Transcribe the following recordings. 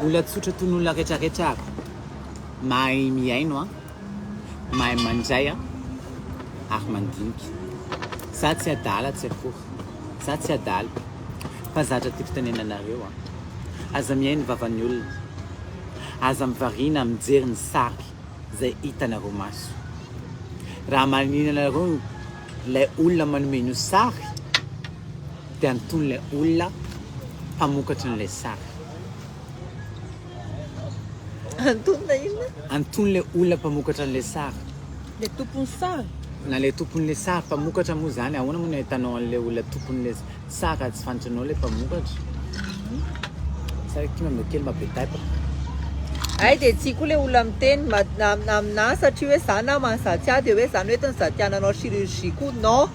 Olona tsotra toy ny olona retraretra ary mahay mihaino an, mahay mandray an ary mandinika. Za tsy adala tsy akory, za tsy adala fa zatra ty fitenenanareo an. Aza mihaino vavan'ny olona, aza mivariana mijery ny sary zay hitanareo maso. Raha maninona nareo ny. Ilay olona manome an'io sary dia anton'ilay olona mpamokatra an'ilay sary. Anton'ilay inona? Anton'ilay olona mpamokatra an'ilay sary. Ilay tompon'ny sary? Na ilay tompon'ilay sary, mpamokatra moa izany, ahoana moa no ahitanao an'ilay olona tompon'ilay sary? Tsara tsy fantatranao ilay mpamokatra. Tsara kima mba kely mba be taitra. Ay dia tsy koa le olona miteny aminà satria hoe za na maha za tsy ahy dia hoe zany hoe tena za tiana hanao chirurgie koa non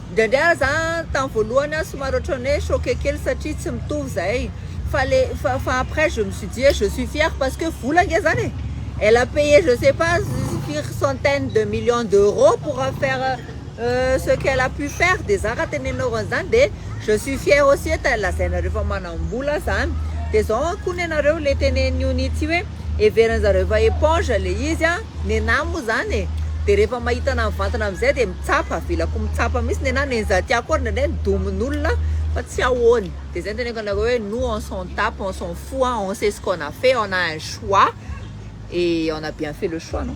indraindray ary za tamin'ny voalohany aho somary ohatran'ny hoe choqué kely satria tsy mitovy zay fa le fa fa après je me suis dit je suis fière parce que vola nge zany e elle a payé je sais pas firy centaines de millions d'euros pour faire Euh ce qu'elle a pu faire de za raha tenenina oran'ny zany de je suis fière aussi et lazainareo fa manambola zany de zao an koa nenareo le teneniny io nitsy hoe heveriny zareo fa eponge le izy an nenah moa zany e de rehefa mahita anah mivantana amizay de mitsapa avela ko mitsapa mihintsy nenah nenza tiako ary ndraindray midomin olona fa tsy ahoany de zay teneniko anareo hoe nous on s'en tape on s'en fou an on sait ce qu'on a fait on a un choix et on a bien fait le choix non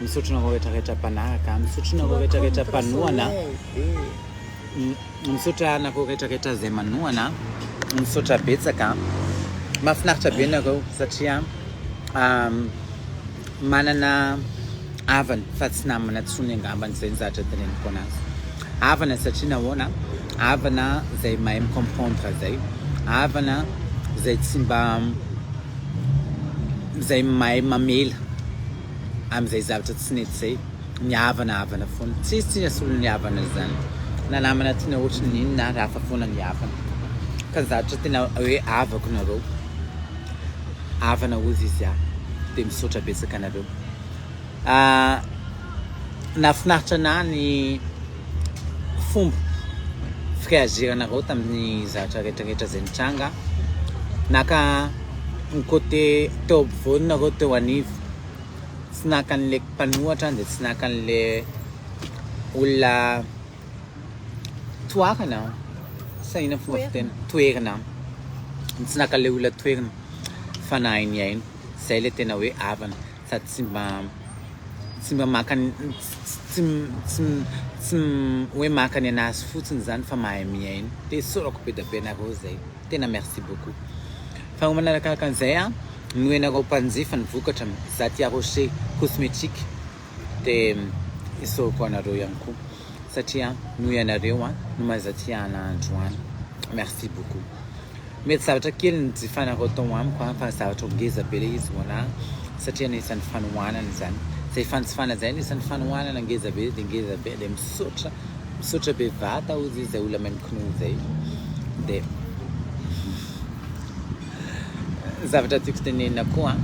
Misaotra anareo rehetra rehetra mpanaraka, misaotra anareo rehetra rehetra mpanohana, misaotra anareo rehetra rehetra izay manohana, misaotra betsaka. Mahafinaritra be nareo satria manana havana fa tsy namana tsony angambany izay ny zatra teneniko anazy havana satria nahoana havana izay mahay micomprendre izay havana izay tsy mba izay mahay mamela amin'izay zavatra tsy nety izay, ny havana havana foana, tsisy tsy asolo ny havana izany, na namana tianao ohatry ny inona ary hafa foana ny havana, ka ny zavatra tena hoe havako nareo, havana hozy izy aho, dia misaotra betsaka anareo. Nahafinaritra anah ny fomba fireagiranareo tamin'ny zavatra retraretra zay nitranga, na ka ny côté teo ampovoany nareo teo anivo, tsy naka an'le mpanohatra de tsy naka an'le olona toarana sa inona fomba fiteny? toerina, tsy naka an'le olona toerina fa nahay nihaino, zay le tena hoe havana. sady tsy mba tsy mba maka ny tsy tsy tsy hoe maka ny anazy fotsiny zany fa mahay mihaino de esorako be da be nareo zay tena merci beaucoup fa ho manarakaraka an'izay a noho ianareo mpanjifa ny vokatra za tia rocher cosmétique de esorako anareo ihany koa satria noho ianareo an no mahaiza tia ana andro an merci beaucoup mety zavatra kely ny jifanareo tao amiko an fa zavatra ho ngeza be le izy ho ana satria anisan'ny fanohanana izany zay fanjifana zay anisan'ny fanohanana ngeza be de ngeza be de misaotra misaotra be vata ozy izay olona maimkinoa izay de zavatra tiako tenenina koa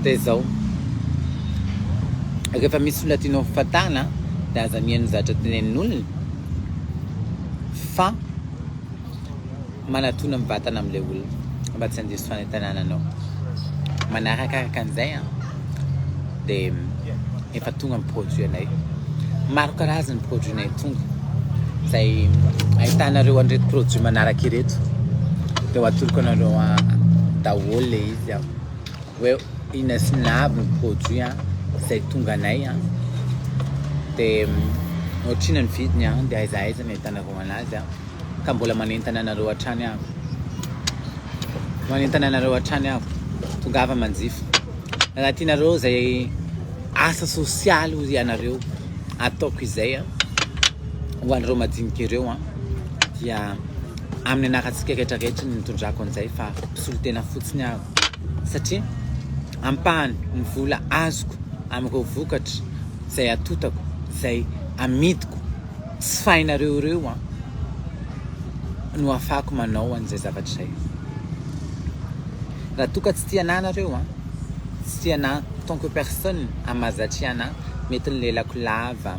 dia izao rehefa misy olona tianao ho fatana dia aza mihaino zavatra tenenin'olona fa manatona amin'ny vatana amin'ilay olona mba tsy handiso fanentanana anao manarakaraka an'izay an dia efa tonga ny produit-nay. Maro karazana ny produit-nay tonga, izay ahitanareo an'ireto produit manaraka ireto. Dia ho atoloko anareo daholo le izy an. Hoe ina sy ina avy ny produit an, izay tonga anay an. Dia ohatrina ny vidiny an, dia aiza aiza ny ahitanareo anazy an. Ka mbola manentana anareo hatrany aho. Manentana anareo hatrany aho, tongava manjifa. Raha tianareo izay asa sosialy hoy ianareo ataoko izay ho an'ireo madinika ireo an, dia amin'ny anarantsika rehetra rehetra ny nitondrako an'izay fa mpisolo tena fotsiny aho satria ampahany ny vola azoko amin'ireo vokatra izay atotako, izay amidiko tsy fainareo ireo an, no afahako manao an'izay zavatra izay. Raha toa ka tsy tia anah nareo an! Tsy tia anah tant que personne an! Mahazatria anah mety ny lelako lava,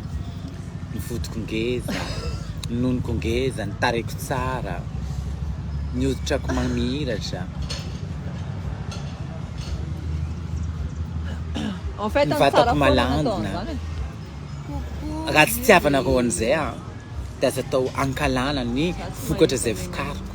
ny vodiko ngeza, ny nonoko ngeza, ny tarehiko tsara, ny hoditrako mamiratra, ny vatako malandina. Raha tsy tiavanareo an'izay an! Dia aza atao ankalana ny vokatra izay vokariko.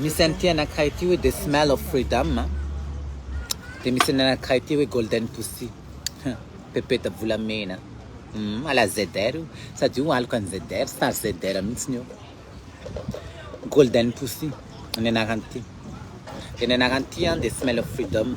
Misy an'ity anankiray ity hoe the smell of freedom a, dia misy ny anankiray ity hoe golden pussy, hum, pepeta volamena, hum, à la ZR io, sady io aloka an'i ZR, star ZR mihitsiny io, golden pussy ny anaran'ity, dia ny anaran'ity an the smell of freedom.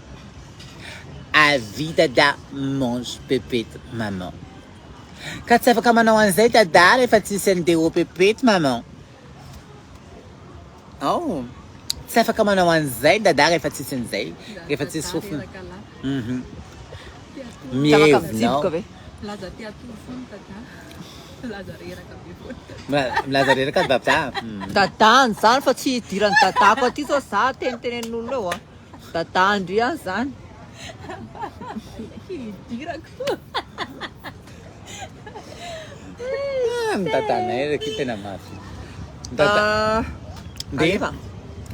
A vie dada mange pepette maman ka tsy afaka manao an'izay dada rehefa tsisy an'i Deo pepette maman oh tsy afaka manao an'izay dada rehefa tsisy an'izay rehefa tsisy fofona mhm mievina aho milaza te hatory foana dada milaza reraka be foana milaza reraka dada dadany zany fa tsy hidiran'ny dadako aty zao za tenitenenin'olona eo a Dada Andria zany. Hidirako. Ah, ny dadanay reky tena mafy. Dada. Ah, Dia alefa.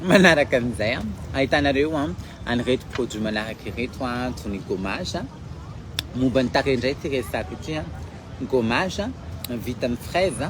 manaraka an'izay a, ahitanareo a, an'ireto produits manaraka ireto a, toy ny gommage a. Momba ny tarehy indray ity resaka ity a. Gommage a, vita amin'ny fraise a.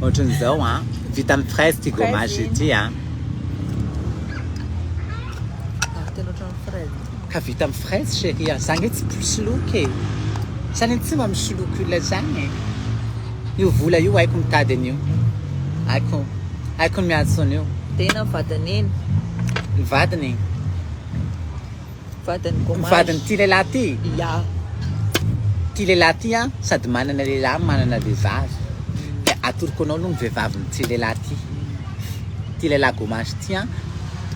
Ohatran'izao an, vita amin'ny fraise ity gommage ity an. Ary tena ohatran'ny fraise ity. Ka vita amin'ny fraise chérie an, za nge tsy mpisoloky e. Za anie tsy mba misoloky olona zany e. Io vola io haiko mitady an'io. Haiko, haiko ny miantso an'io. Tena ny vadin'Neny. Ny vadiny. vadin'ity lehilahy ity, ity lehilahy ity an sady manana lehilahy no manana vehivavy dia atoroko anao aloha ny vehivavin'ity lehilahy ity, ity lehilahy gomash ity an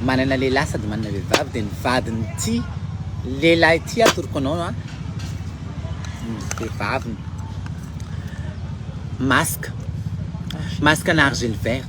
manana lehilahy sady manana vehivavy dia ny vadin'ity lehilahy ity atoroko anao an ny vehivaviny, masque, masque ana argile verte.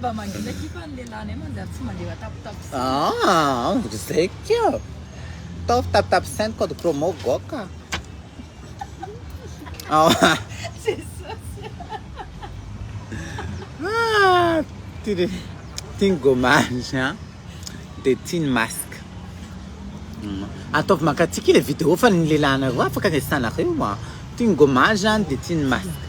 Mba mangina akia fa ny lehilahinay manjary tsy mandeha matapitapy saina. Ah, zay kia. Ataovy tapitapy saina code promo goka. Oh. Ah, tiany tiany gommage a. Dia tiany masque. Mm. Ataovy mankatsiaka ilay vidéo fa ny lehilahinareo afaka resahinareo a. Tiany gommage a, dia tiany masque.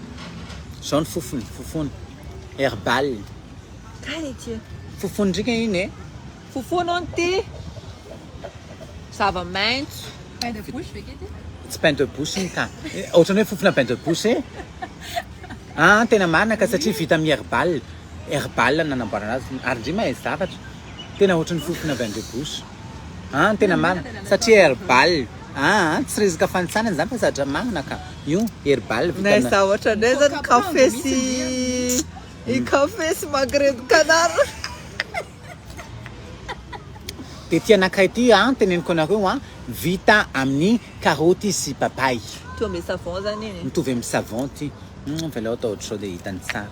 Zao ny fofony, fofony herbal. Kay ity e. Fofony ndrika iny e. Fofony hono ty. Zava-maintso. Pain de bouche ve kety? Tsy pain de bouche iny ka. Ohatran'ny hoe fofona pain de bouche e. Ah, tena marina ka satria vita amin'ny herbal. Herbal no nanamboarana azy. Ary ndry mahay zavatra. Tena ohatran'ny fofona pain de bouche. An tena marina satria herbal an tsy resaka fanitsana zany fa zatra marina ka io herbal vita na za ohatra ndray zany café sy i café sy magret de canard de ty anakay ty an teneniko anareo an vita amin'ny karoty sy papay mitovy amin'ny savon zany iny mitovy amin'ny savon ty avelao atao ohatr'izao de hitany tsara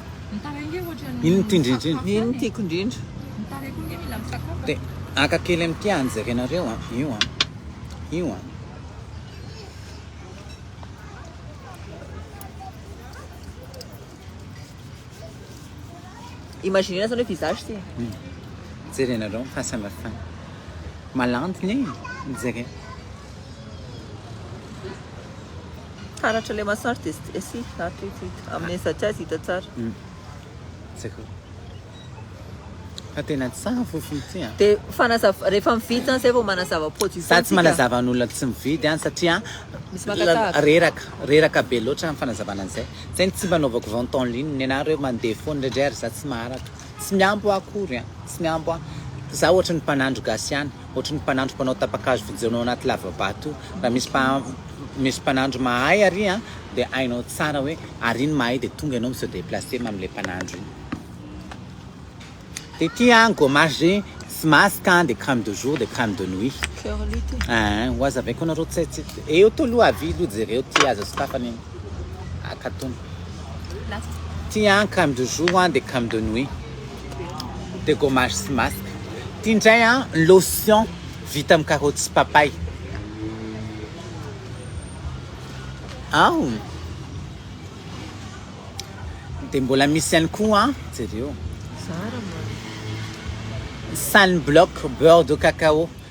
Iny no tiako indrindra. Iny no tiako indrindra. Dia haka kely amin'ity hany jerenareo a. Io a. Io a. Imaginez zany hoe visage ty. Hmm. Jerenareo fahasamihafana. Malandy ny mijery. Taratra le massage de st si ah tu tu tu amin'ny aiza-tsy aiza hita tsara. Hum. Zako. Fa tena tsara fofony ity a. Dia fanazava- rehefa mividy zany zay vao manazava produit Za tsy manazava an'olona tsy mividy any satria Misy maka la- tahaka. reraka reraka be loatra ny fanazavana an'izay. Zay ny tsy mba anaovako vente en ligne, ny anah reo mandeha foana indraindray ary za tsy maharaka. Tsy mihambo ahy akory a, tsy mihambo ahy. Za ohatry ny mpanandro gasy ihany. Ohatry ny mpanandro mpanao tapakazo vojaona ao anaty lavabato raha misy mpa misy mpanandro mahay ary a dia hainao tsara hoe ary iny mahay dia tonga ianao mi se deplacer mam'ilay mpanandro iny dia ity a gommage tsy masque a dia crème de jour dia crème de nuit Fleur lutte. Ah, ho aza avy koa nareo tsy tsy eo to aloha avy aloha jereo ty aza sokafana iny akatona Last. ty an crème de jour an dia crème de nuit de gommage sy masque ty ndray an lotion vita amin'ny karoty sy papay ao de mbola misy ihany koa an jereo sun block beurre de cacao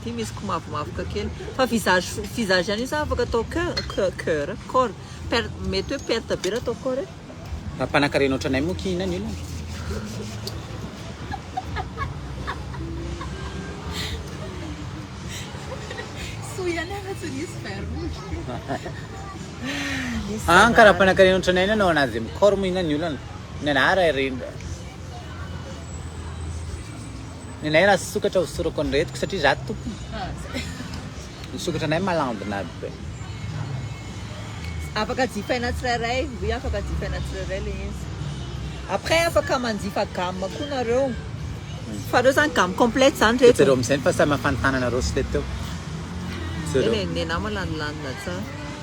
Ity misy komavomavoka kely. Fa visage visage ihany io sa afaka atao cœur cœur cœur corps. Per mety hoe perte be raha atao corps e. Raha mpanakarena ohatranay moa kihina ny olona. Soa ihany aza tsy nisy verrouille. Ah, ka raha mpanakarena ohatranay ny anao anazy mi-corps moa inona ny olana? Ny anà raha rindra. Ny anay raha sokatra ho sorako ny retiko satria za tompony. Ny sokatra anay malandina be. Afaka jifaina tsirairay, oui afaka jifaina tsirairay le izy. Après afaka manjifa gamme koa nareo. Fa reo zany gamme complète zany reto. Jereo amizay ny fahasamihafany tananareo sy le teo. Jereo. Nenah malandilandina tsara.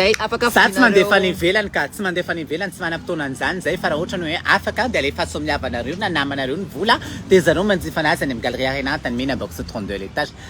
Zay afaka Za tsy mandefa any ivelany ka, tsy mandefa any ivelany, tsy manam-potoana an'izany zay fa raha ohatra ny hoe afaka dia alefaso amin'ny havanareo na namanareo ny vola dia zareo manjifa anazy any amin'ny Galerie Arena Antanimena box trente-deux à l'étage.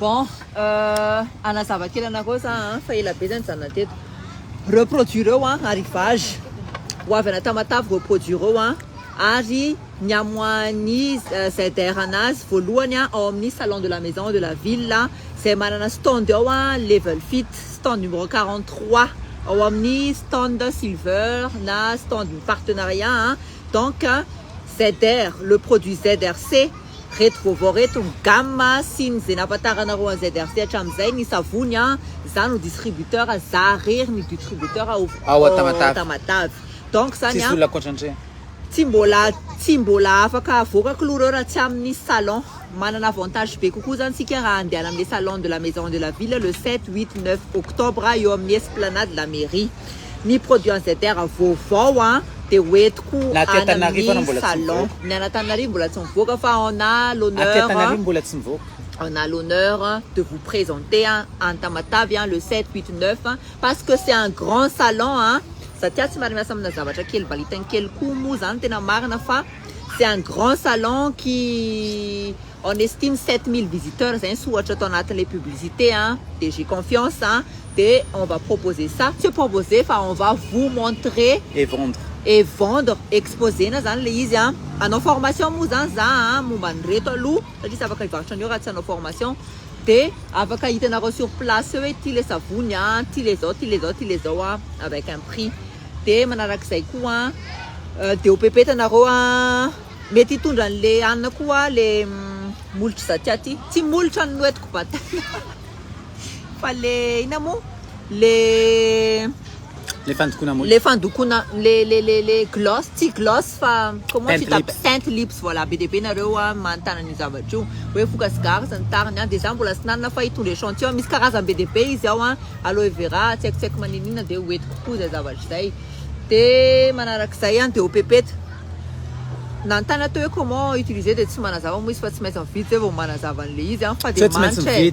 Bon hanazava kely anareo za a fa ela be zah nijanona teto, reo produit reo a arrivage ho avy any Tamatave reo produit reo a ary. niamoahan'ny ZR anazy voalohany ao amin'ny Salon de la Maison de la Ville izay manana stand ao Level Fit, stand numéro quarante trois, ao amin'ny stand Silver na stand ny partenariat a, donc ZR, le produit ZRC, reto vaovao reto ny gamme sy ny izay nampatanranareo an'i ZRC hatramin'izay, ny savony a, za no distributeur, za rery ny dutributeur ao Tamatave, donc zany a. Tsy mbola tsy mbola afaka avoaka klou reo raha tsy aminy salon. Manana avantage be kokoa zany tsika raha andehana amle salon de la maison de la ville le sept, huit, neuf octobre eo amin'ny esplanade la mairie. Ny produit an'i ZR vaovao an de ho entiko any amin'ny salon. Ny an'Antananarivo mbola tsy mivoaka fa on a l'honneur on a l'honneur de vous presenter any Tamatave le sept, huit, neuf Parce que c'est un grand salon a! Za tia tsy miara miasa amina zavatra kely valitany kely koa moa zany tena marina fa c'est un grand salon qui on estime sept mille visiteurs zay nisy ohatra tao anatin'ilay publicité a! de j'ai confiance a! de on va proposer ça, tsy hoe proposer fa on va vous montrer et vendre et vendre, exposer-na zany ilay izy a! hanao formation moa zany za a! momba an'ireto aloha satria tsy afaka hivarotra an'io raha tsy hanao formation. Dia afaka hitanareo sur place eo hoe ty le savony a, ty le zao, ty le zao, ty le zao a, avec un prix. Dia manarak'izay koa dia ho pepeta nareo a, mety hitondra an'le anona koa le molotr'i Zatia ty, tsy molotra ny noetiko bataina fa le inona moa le. Le fandokona mousse. Le fandokona le le le le gloss tsy gloss fa comment tu t'appelles teinte lips voilà be dia be nareo a manontany an'io zavatra io hoe foka sigara sy ny tariny a de za mbola tsy nanana fa hitondra echantillon misy karazany be dia be izy ao a aloe vera tsy haiko tsy haiko maninona de ho entiko koa zay zavatra zay de manarak'izay a de eau pepette nanontany aho teo hoe comment utiliser de tsy manazava moa izy fa tsy maintsy mividy zay vao manazava an'le izy a fa de manitra e.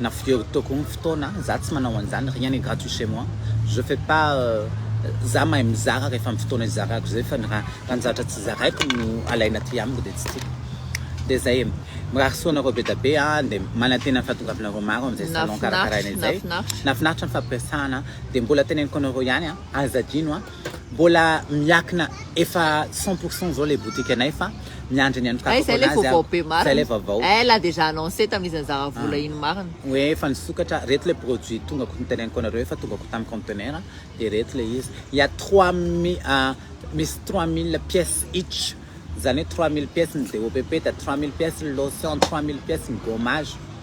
na fijery toko ny fotoana, za tsy manao an'zany, rien n'est gratuit chez moi, je fais pas za mahay mizara rehefa amin'ny fotoana izarako zay fa ny raha raha ny zavatra tsy zaraiko no alaina aty amiko dia tsy tiako dia zay e, mirary soa anareo bedabe a, dia manantena ny fahatongavanareo maro amin'izay salon karakaraina izay, nahafinaritra ny fampiresahana dia mbola teneniko anareo ihany a, aza adino a, Mbola miakina efa cent pour cent zao le boutique anay fa miandry ny an'Kaka foana azy aho. Zay le vaovao. Eh la dejà annonce tamin'ny izy nizara vola iny marina. Hoe efa nisokatra, reto le produit tonga ko niteneniko anareo efa tonga ko tamin'ny conteneur de reto le izy. Il y a trois mille misy trois mille pièces each zany hoe trois mille pièces ny DOPP da trois mille pièces ny lotion, trois mille pièces ny gommage.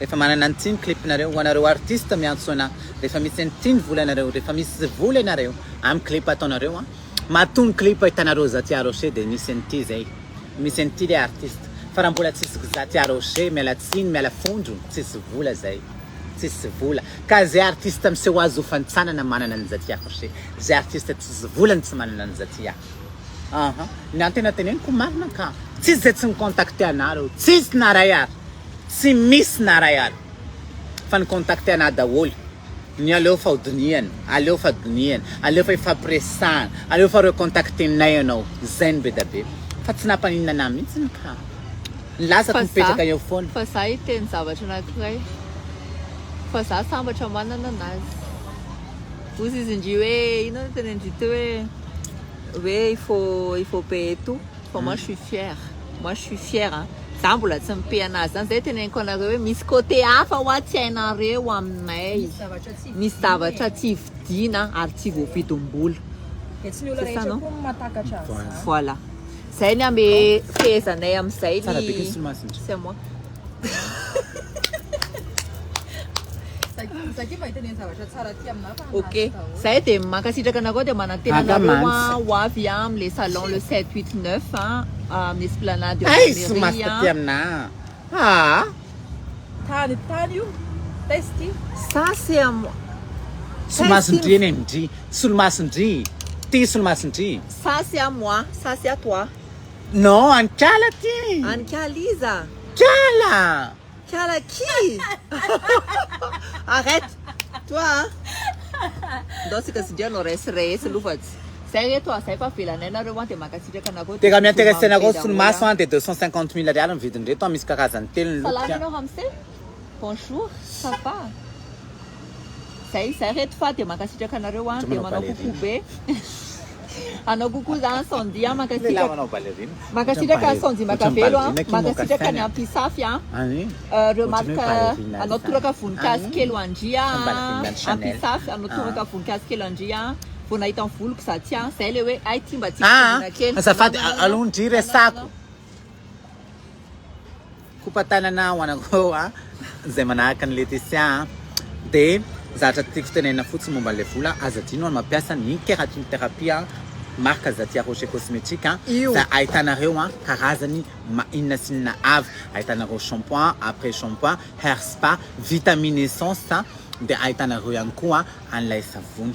Rehefa manana ny tim clip nareo ho anareo artiste miantso ana rehefa misy any tim vola anareo rehefa misy vola ianareo am clip ataonareo a matoa ny clip ahitana roza tia rocher de misy any ty zay misy any ty le artiste fa raha mbola tsisy gza tia rocher miala tsiny miala fondro tsisy vola zay tsisy vola ka zay artiste miseho azy ho fantsanana manana ny za tia rocher zay artiste tsisy vola ny tsy manana ny za tia aha ny antena teneniko marina ka tsisy zay tsy mi contacter ana reo tsisy na ray ary Tsy misy na ray ary fa ny contacte anah daholo ny aleo fa ho dinihana aleo fa dinihana aleo fa ifampiresahana aleo fa recontacte nay ianao zay no bedabe fa tsy nampaninona anah mihitsiny ka ny lasako mipetraka eo foana fa za hiteny zavatra anankiray fa za sambatra manana anazy ozy izy ndry hoe inona no tenendry teo hoe hoe il faut il faut payer tout fa moi je suis fière moi je suis fière a za mbola tsy mipe anazy zany zay teneniko anareo hoe misy côté hafa hoa tsy hainareo aminay misy zavatra tsy vidiana ary tsy voavidim-bola dia tsy ny olona rehetra koa matakatra an'izany voilà zay ny ame fehezanay amin'izay ny c'est moi Okay. Zahay dia mankasitraka anareo dia manantena anareo ah, ho avy ah, amin'ny salon le 7, 8, 9 ah, amin'ny esplanade eo Ay, sy maty taty aminà. Ah, Tany tany io. Testy. ça c'est à moi. Solomasin-dry eny amin-dry. Solomasin-dry. Ty solomasin-dry. Ça c'est à moi, ça c'est à toi. Non any kala ty. Any kala iza? Kala! Kala qui? Arrête! Toi a! Ndao tsika zindry anao resy resy lovatsy. Zay reto a, zay fa avelanay nareo a, de mankasitraka anareo. Dia raha mi-interesse anareo solomaso a, dia deux cent cinquante mille ariary ny vidiny reto a, misy karazany telo ny look. Salama ianao ramose. Bonjour ça va Zay zay reto fa dia mankasitraka anareo an dia manao coucou be anao coucou za an Sandy an mankasitraka mankasitraka an Sandy Makavelo an mankasitraka ny Ampisafy an remarque anao toraka voninkazo kely ho an-dry an Ampisafy anao toraka voninkazo kely ho an-dry an vao nahita ny voloko za tsy an zay le hoe ay ty mba tiako tongoina kely azafady aloha ndry resako Kopa tanana ho anakô a! Zay manahaka an'i Letisia a! De zatra tiako tenenina fotsiny momba an'ilay vola, aza adino ny mampiasa ny Keratin Therapy a! Marka Zatia Rocher Cosmetic a! Fa ahitanareo a! Karazany ma inona sy inona avy! Ahitanareo shampoing, après shampoing, hair spa, vitamine essence a! De ahitanareo ihany koa an'ilay savony.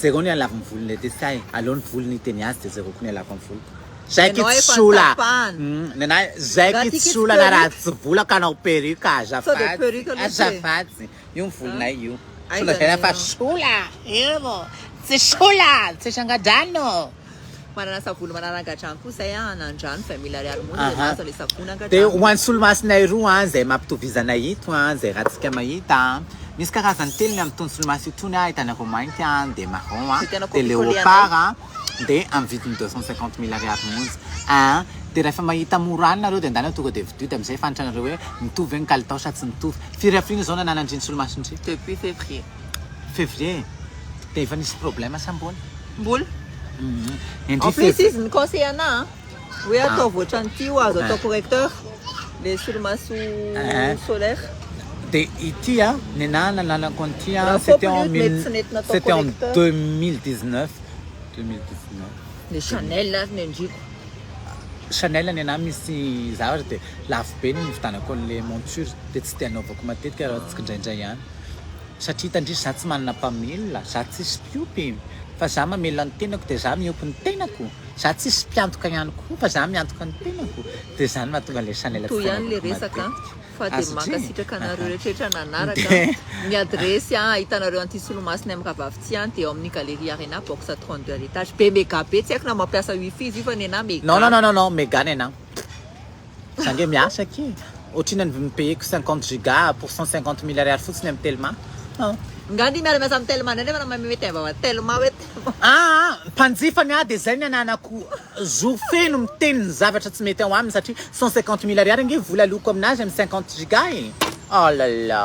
Jereo ny halavin'ny volon'i Letisia e! Aleo ny volony hiteny azy de jereo koa ny halavin'ny voloko. Zay ty tsy olana, nenahy zay ty tsy olana raha tsy vola ka hanao perruque azafady, azafady io ny volonay io, tsy lazaina fa sola io, tsy sola, tsy sanga-drano. Manana savony manaranga-drano koa zay an, hanan-drano vingt mille ariary monja zay mahazo anle savony nanga-drano. Dia ho an'ny solomasinay roa an, zay mampitovizana ito an, zay ratsika mahita an, misy karazany telo ny amin'itony solomaso itony an, hitanareo mainty an, dia marron an, dia leopard an, de am vidiny deux cent cinquante mille ariary monja aa de refa mahita mora any nareo de ndana tonga de vidio de amizay efa antrnareo hoe mitovy ve ny kalitao sa tsy mitovy firy afrina zao nanana ndry nisolomaso ndry depuis fevrier fevrier de efa nisy probleme sa mbola mbola en plus izy ni conseille ana a. Hoe ataovy ohatran'ity ho azo atao correcteur le solomaso solaire. Dia ity an, ny naha nananako an'ity an, c'était en mille, c'était en 2019, 2019. Ny Chanel ary ny an-driako. Chanel ny anahy misy zavatra dia lafo be ny nividianako an'ilay monture dia tsy dia anaovako matetika raha tsikindraindray ihany. Satria hitandrisy za tsy manana mpamela, za tsisy mpiompy, fa za mamela ny tenako dia za miompy ny tenako, za tsisy mpiantoka ihany koa fa za miantoka ny tenako, dia izany no mahatonga ilay sahala tsy fanaovako matetika azy dry e! Non non non non non mega nenah. Za nge miasa aky otrina ny payeko cinquante giga pour cent cinquante mille ariary fotsiny am telma an. Nga anie miara miasa am telma ndray nefa nama mety ava wa telma we telma. Aa mpanjifa ny ahy de zay ny ananako jour feno miteny ny zavatra tsy mety ao aminy satria cent cinquante mille ariary ange vola aloako aminazy am cinquante giga e. Alala.